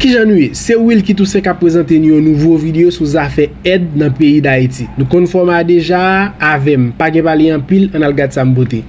Kijan nou ye? Se Wilky Toussaint kap prezante nou yon nouvo video sou zafè èd nan peyi Dayiti. Nou konn fòma a deja a, avèm. Pa gen pale anpil, ann al gad sa m pote.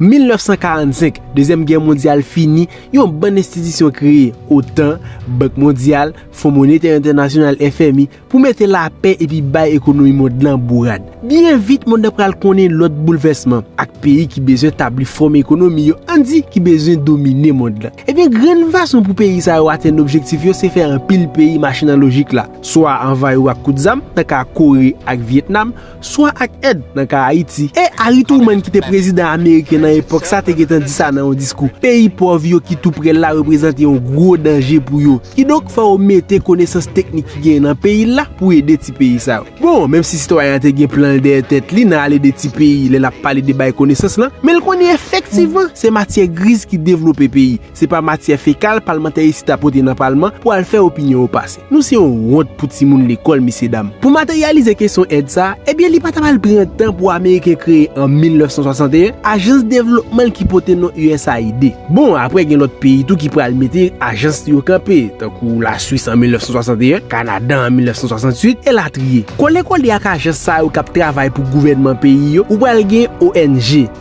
1945, Dezyèm Gè Mondyal fini, yon bann enstitisyon kreye, otan, Bank Mondyal, Fon Monetè Entènasyonal, FMI, pou mete lapè epi bay ekonomi mond lan bourad. Byen vit mond lan pral konnen lòt boulvèsman, ak peyi ki bezwen tabli fòm ekonomi yo ann di ki bezwen domine mond lan. Ebyen grenn fason pou peyi sa yo atenn objektif yo se fè anpil peyi mache nan lojik la, swa anvayi ou ak kout zam, nan ka Kore ak Vyetnam, swa ak èd nan ka Ayiti. E Harry Truman ki te prezidan ameriken nan epòk sa te gentan di sa nan yon diskou, peyi pòv yo ki tou prè l la reprezante yon gwo danje pou yo. Kidonk fò yo mete konesans teknik ki genyen nan peyi l la pou ede ti peyi sa yo. Bon, menm si sitwayen an te gen plan l dèyè tèt li nan al ede ti peyi lè l ap pale de bay konesans lan, men l konnen efektivman se matyè griz ki devlope peyi. Se pa matyè fekal palmantè isit a pote nan palman pou al fè opinyon yo pase. Nou se yon wont pou timoun lekòl, mesye dam. Pou materyalize kesyon èd sa a, ebyen li pa ta mal pran tan pou Ameriken kreye an 1961 ajans devlopman l ki pote non usaid. Bon, apre gen lòt peyi tou ki pral mete ajans li yo kanpe, tankou Laswis an 1961, Kanada an 1968, elatriye. Kole kole ak ajans sa yo k ap travay pou gouvènman peyi yo, ou pral gen ong.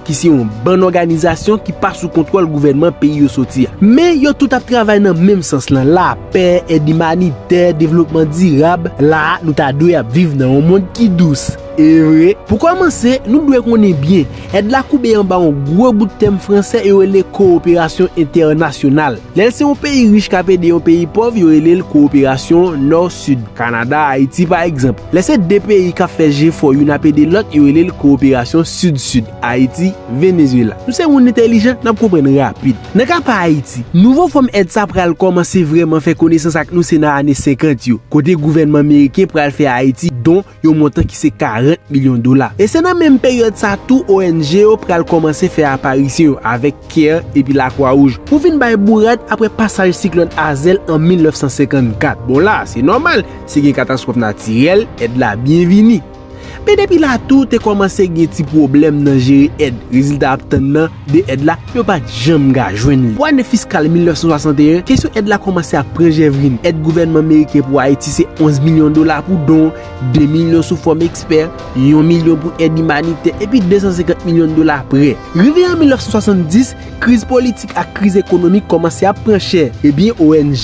ki se yon bann òganizasyon ki pa sou kontwòl gouvènman peyi yo soti a. Men, yo tout ap travay nan menm sans lan, lapè, èd imanitè, devlopman dirab. La a, nou ta dwe ap viv nan yon mond ki dous. E vre! Pou kòmanse, nou dwe konnen byen, èd la koube anba yon gwo bout tèm franse yo rele kowoperasyon entènasyonal. Lè l se yon peyi rich k ap ede yon peyi pòv, yo rele l kowoperasyon Nò-Sid. Kanada, Ayiti pa egzanp. Lè se de peyi k ap fè jefò youn ap ede lòt, yo rele l kowoperasyon Sid-Sid, Ayiti, Venezyela. Nou se moun entèlijan, n ap konprann rapid. Nan ka pa Ayiti, nouvo fòm èd sa pral kòmanse vrèman fè konesans ak nou se nan ane senkant yo, kote gouvènman meriken pral fè Ayiti don yon montan ki se 40 milyon dola. E se nan menm peryòd sa tou ong yo pral kòmanse fè aparisyon yo avèk care epi lakwa wouj pou vin bay bourad aprè pasaj siklòn Hazel an 1954. Bon la, se nòmal, si gen katastwòf natirèl, èd la byen vini. Men depi la tou te kòmanse gen ti pwoblèm nan jere èd, rezilta ap tann nan de èd la, yo pa t janm ka jwenn li. Pou ane fiskal 1961, kesyon èd la kòmanse ap pran jèvrin. Èd gouvènman meriken pou Ayiti se 11 milyon dola pou don, 2 milyon sou fòm ekspè, yon milyon pou èd imanitè, epi 250 milyon dola prè. Rive an 1970, kriz politik ak kriz ekonomik kòmanse ap pran chè. Ebyen, ong,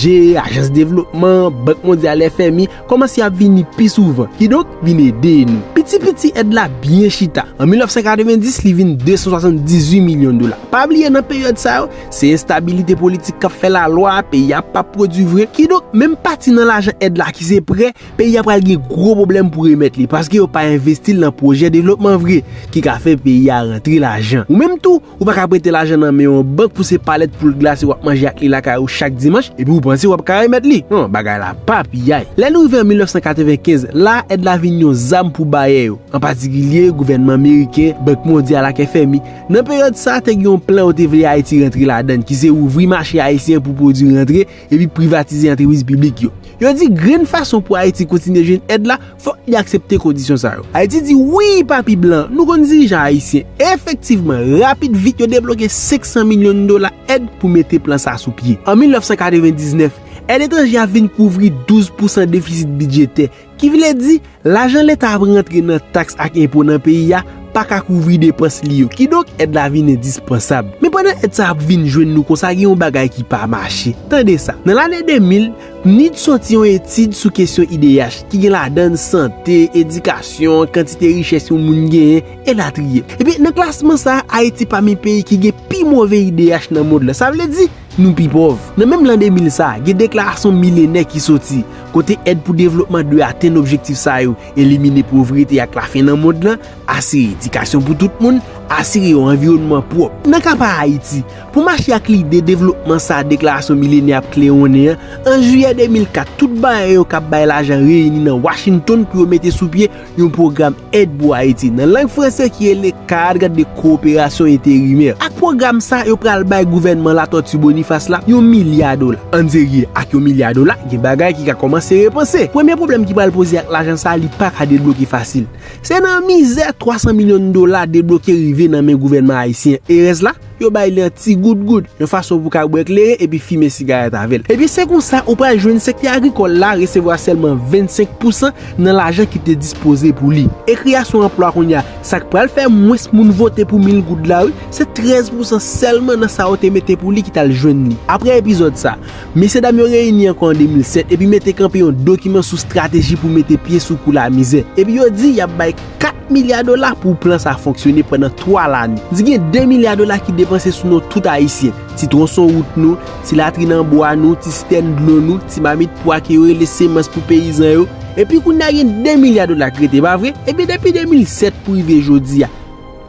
ajans devlopman, Bank Mondyal, FMI, kòmanse ap vini pi souvan, kidonk vin ede nou. Piti piti èd la byen chita, an 1990 li vin 278 milyon dola. Pa bliye nan peryòd sa yo, se enstabilite politik k ap fè lalwa, peyi a pap pwodui vre, kidonk menm pati nan lajan èd la ki se prè, peyi a pral gen gwo pwoblèm pou remèt li, paske yo pa envesti l nan pwojè devlopman vre ki ka fè peyi a rantre lajan. Ou menm tou, Ou pa ka prete lajan nan men yon bank pou se palèt poul glase wap manje ak li lakay ou chak dimanch epi ou panse wap ka remèt li. Non, bagay la pa piyay. Lè nou rive an 1995, la a èd la vin yon zam pou bayè yo, an patikilye gouvènman meriken, Bank Mondyal ak FMI. Nan peryòd sa a, te gen yon plan yo te vle Ayiti rantre ladan, ki se ouvri mache ayisyen pou pwodui rantre, epi privatize antrepriz piblik yo. Yo di grenn fason pou Ayiti kontinye jwenn èd la, fòk li aksepte kondisyon sa yo. Ayiti di wi pa pi blan. Nou konn dirijan ayisyen. Efektivman, rapid vit yo debloke 500 milyon dola èd pou mete plan sa sou pye. An 1999, èd etranje a vin kouvri 12 pousan defisit bidjetè. Ki vle di, lajan leta ap rantre nan taks ak enpo nan peyi a pa ka kouvri depans li yo. Kidonk, èd la vin endispansab. Men pandan èd sa ap vin jwenn nou konsa gen yon bagay ki pa mache. Tande sa, Nan lane 2000, PNID soti yon etid sou kesyon IDH, ki gen ladann sante, edikasyon, kantite richès yon moun genyen, elatriye. Ebyen, nan klasman sa a, Ayiti pami peyi ki gen pi move IDH nan mond lan. Sa vle di, Nou pi pòv. Nan menm lan 2000 sa, gen deklarasyon milenè ki soti, kote èd pou devlopman dwe atenn objektif sa yo, elimine povrete ak lafen nan mond lan, asire edikasyon pou tout moun, asire yon anviwònman pwòp. Nan ka pa Ayiti, pou mache ak lide devlopman sa deklarasyon milenè ap klewonnen an, an jiyè 2004 tout baryè yo k ap bay lajan reyini nan Washington pou yo mete sou pye yon pwogram èd pou Ayiti nan lang franse ki rele Cadre de coopération intérimaire. Ak pwogram sa a, yo pral bay gouvènman Latòti Bonifas la yon milya dola. Anserye, ak yon milya dola, gen bagay ki ka kòmanse repanse. Premye pwoblèm ki pral poze ak lajan sa a, li pa ka debloke fasil. Se nan mizè 300 milyon dola debloke rive nan men gouvènman ayisyen. E rès la? yo bay li an ti gout gout, yon fason pou ka bwè kleren epi fimen sigarèt avè l. Ebyen se konsa ou pral jwenn sektè agrikòl la resevwa sèlman 25 pousan nan lajan ki te dispoze pou li. E kreyasyon anplwa kounye a, sa k pral fè mwens moun vote pou mil goud la wi, se 13 pousan sèlman nan sa yo te mete pou li ki t al jwenn li. Aprè epizòd sa, mesye dam yo reyini ankò an 2007 epi mete kanpe yon dokiman sou strateji pou mete pye sou kou lamizè. Epi yo di y ap bay. 4 milya dola pou plan sa fonksyone pandan 3 lane. Di gen 2 milya dola ki depanse sou non tout Ayisyen, ti twonson wout nou, ti latrin an bwa nou, ti sitèn dlo nou, ti mamit pwa ke yo rele semans pou peyizan yo. Epi kounye a gen 2 milya dola k rete, pa vre? Ebyen depi 2007 pou rive jodi a,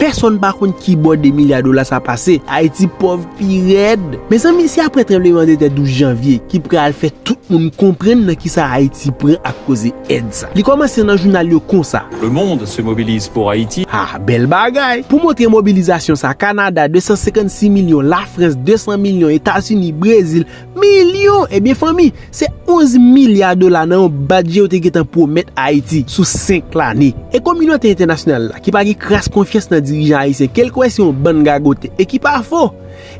pèsonn pa konn kibò 2 milya dola sa pase. Ayiti pòv pi rèd! Mezanmi, se aprè tranbleman de tè 12 janvye ki pral fè tout moun konprann nan kisa Ayiti pran ak koze èd sa. Li kòmanse nan jounal yo konsa. Le monde se mobilise pour Haïti. Ha! Bèl bagay! Pou montre mobilizasyon sa, Kanada, 256 milyon, Lafrans, 200 milyon, Etazini, Brezil, milyon! Ebyen fanmi, se 11 milya dola nan yon badje yo te gentan pwomèt Ayiti sou 5 lane. E kominote entènasyonal la, ki pa gen kras konfyans nan dirijan ayisyen ke l kwè se yon bann gagote, e ki pa fo!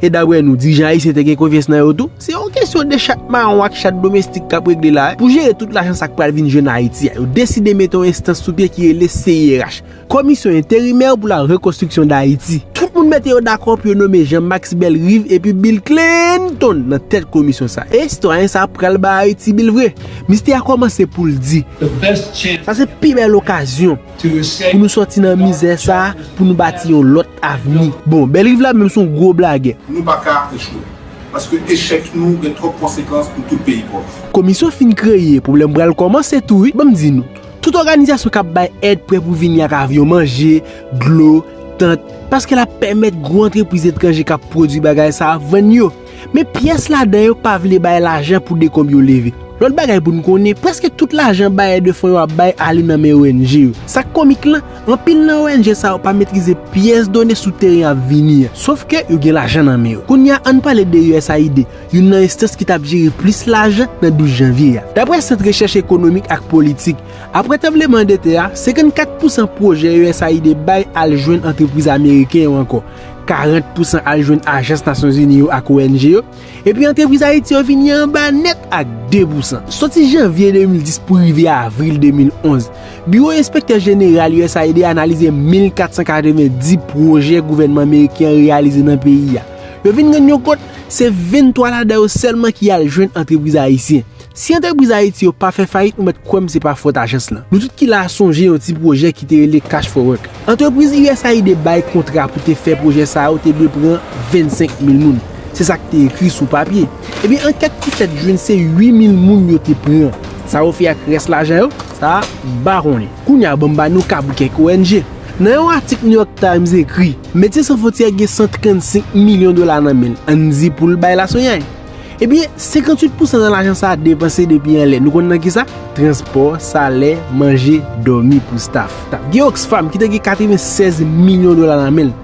E daprè nou, dirijan ayisyen te gen konfyans nan yo tou? Se yon kesyon de chat mawon ak chat domestik k ap regle la a. Pou jere tout lajan sa k pral vin jwenn Ayiti a, yo deside mete yon enstans sou pye ki rele CIRH, Komisyon Enterimè pou la Rekonstriksyon Dayiti. Tout moun mete yo dakò pou yo nome Jean Max Bellerive epi Bill Clinton nan tèt komisyon sa a. E sitwayen sa a pral bay Ayiti bil vre? Mistè a kòmanse pou l di. Sa se pi bèl okazyon. Pou nou sòti nan mizè sa a, pou nou bati yon lòt avni. Bon, Bellerive la menm se yon gwo blagè. Nou pa ka echwe. Paske echèk nou gen twòp konsekans pou tout peyi pòv. Komisyon fin kreye, pwoblèm pral kòmanse tou wi. Ban m di nou, tout òganizasyon k ap bay èd prè pou vini ak avyon manje, dlo, tant, paske l ap pèmèt gwo antrepriz etranje k ap pwodui bagay sa a vann yo. Men pyès ladan yo pa vle bay lajan pou dekonb yo leve. Lòt bagay pou n konnen, prèske tout lajan bayè de fon yo ap bay ale nan men ong yo. Sa k komik la, anpil nan ong sa yo pa metrize pyès done sou teren y ap vini an. Sof ke yo gen lajan nan men yo. Kounye a, an n pale de usaid, youn nan enstans ki t ap jere plis lajan nan 12 janvye a. Daprè Sant Rechèch Ekonomik ak Politik, aprè tranbleman de tè a, 54 pousan pwojè usaid bay al jwenn antrepriz ameriken yo ankò. 40 pousan al jwenn ajans Nasyon Zini yo ak ONG yo, epi antrepriz Ayiti yo vini anba nèt ak 2 pousan. Soti janvye 2010 pou rive avril 2011, Biwo Enspektè Jeneral usaid analize 1,490 pwojè gouvènman meriken an reyalize nan peyi a. Yo vin rann yo kont se 23 ladan yo sèlman ki al jwenn antrepriz ayisyen. Si antrepriz Ayiti yo pa fè fayit ou mèt kwè m se pa fòt ajans lan. Nou tout ki la a sonje yon ti pwojè ki te rele Cash for Work. Antrepriz usaid bay kontra pou te fè pwojè sa yo te dwe pran 25 mil moun. Se sa k te ekri sou papye. Ebyen ankèt ki fèt jwenn se 8 mil moun yo te pran. Sa yo fè ak rès lajan yo? Sa a m pa konnen. Kounye a ban m ba nou ka pou kèk ong. Nan yon atik New York Times ekri, Medsen San Fwontyè gen 135 milyon dola nan men l, an n di pou l bay laswenyay. Ebyen, 58 pousan nan lajan sa a depanse depi anlè. Nou konn nan ki sa? Transpò, salè, manje, dòmi pou staf. Gen Oxfam ki te gen 96 milyon dola nan men l.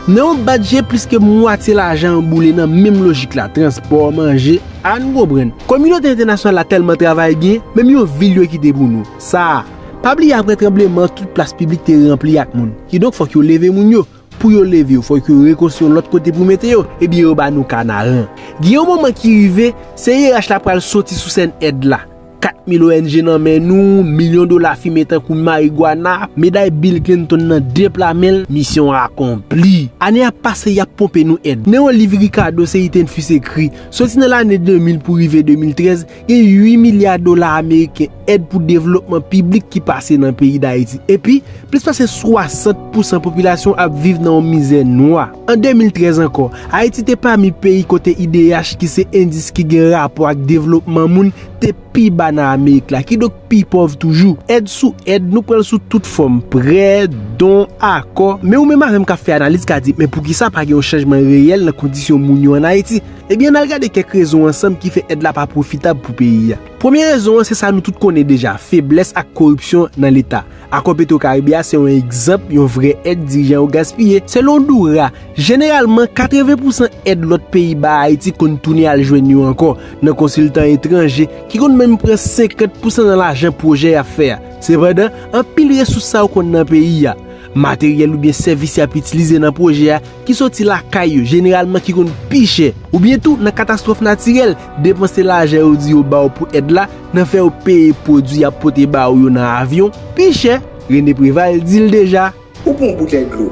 Nan yon bat je, plis ke mwatye lajan an boule nan menm lojik la, transpò, manje, a nou konprann. Kominote entènasyonal la tèlman travay byen, menm yon vil yo kite pou nou. Sa a. Pa bliye aprè tranbleman, tout plas piblik te ranpli ak moun. Kidonk fòk yo leve moun yo. Pou yo leve yo, fòk yo rekonstwi yon lòt kote pou mete yo, ebyen yo ba nou Kanaran. Gen yon moman ki rive, CIRH la pral soti sou sèn èd la. 4 mil ong nan men nou, milyon dola fimen tankou marigwana, meday Bill Clinton nan depla men l, misyon akonpli. Ane ap pase, y ap ponpe nou èd. Nan yon liv Ricardo Seitenfus ekri, soti nan lane 2000 pou rive 2013, Gen 8 milya dola ameriken èd pou devlopman piblik ki pase nan peyi Dayiti. Epi, plis pase 60 pousan popilasyon ap viv nan yon mizè nwa. An 2013 ankò, Ayiti te pami peyi kote IDH ki se endis ki gen rapò ak devlopman moun te pi ba nan Amerik la, kidonk pi pòv toujou. Èd sou èd, nou pran l sou tout fòm, prè, don, akò. Men ou menm avè m k ap fè analiz ka di, men poukisa pa gen yon chanjman reyèl nan kondisyon moun yo an Ayiti? Ebyen ann al gade kèk rezon ansanm ki fè èd la pa pwofitab pou peyi a. Premye rezon an se sa nou tout konnen deja, feblès ak koripsyon nan leta. Akò Petwokaribe a se yon egzanp yon vrè èd dirijan yo gaspiye. Selon Doura, jeneralman 80 pousan èd lòt peyi ba Ayiti konn tounen al jwenn yo ankò nan konsiltan etranje ki konn menm pran 50 pousan nan lajan pwojè y ap fè a. Sepandan, anpil resous sa yo konn nan peyi a. Materyèl oubyen sèvis y ap itilize nan pwojè a ki soti lakay yo jeneralman ki konn pi chè, oubyen tou nan katastwòf natirèl, depanse lajan yo di yo ba w pou èd la nan fè yo peye pwodui y ap pote ba ou yo nan avyon, pi chè, Rene Preval di l deja. Ou pran yon boutèy dlo,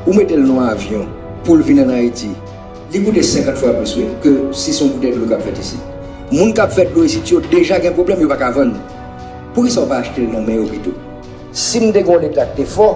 ou mete l nan yon avyon pou l vin ann Ayiti, li koute 50 fwa plis wi ke si se yon boutèy dlo k ap fèt isit. Moun k ap fè dlo isit yo deja gen pwoblèm, yo pa ka vann. Poukisa ou pa achte l nan men yo pito? Si m te gen yon Leta k te fò,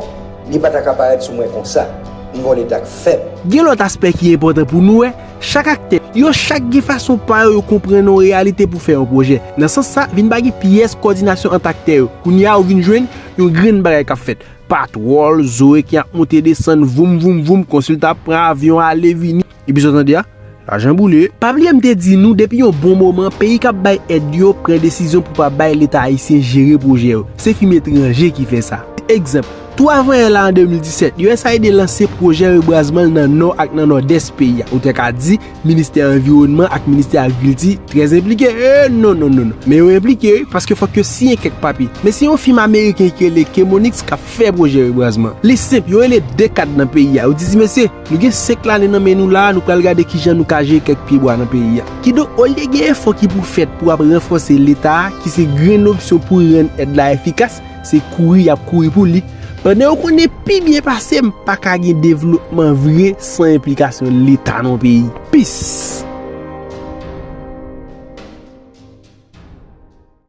li pa ta ka parèt sou mwen konsa. M gen yon Leta k fèb. Gen lòt aspè ki enpòtan pou nou wè, chak aktè, yo chak gen fason pa yo yo konprann yon reyalite pou fè yon pwojè. Nan sans sa, vin pa gen pyès kòdinasyon ant aktè yo. Kounye a ou vin jwenn yon grenn bagay k ap fèt. Patwòl, zoe ki ap monte desann, voum voum voum, konsiltan ap pran avyon ale vini. Epizòd an 2 a, Lajan boule. Pa bliye m te di nou depi yon bon moman peyi kap bay èd yo pran desizyon pou pa bay leta ayisyen jere pwojè yo. Se fim etranje ki fè sa. Egzanp, tou avan yè la an 2017, usaid lanse pwojè rebwazman l nan nò ak nan nòdès peyi a. Ou te ka di ministè anviwònman ak ministè agrikilti trè enplike. Ee non non non non. Men yo enplike wi paske fòk yo siyen kèk papye. Men se yon fim ameriken ki rele Chemonix kap fè pwojè rebwazman. Li senp, yo rele 2 kad nan peyi a, yo di ti mesye, Nou gen 5 lane nan men nou la a, nou pral gade kijan nou ka jere kèk pyebwa nan peyi a. Kidonk, olye gen efò ki pou fèt pou ap ranfòse Leta a, ki se grenn opsyon pou rann èd la efikas, se kouri y ap kouri pou li, pandan yo konnen pi byen pase m pa ka gen devlopman vre san enplikasyon Leta nan yon peyi. Peace!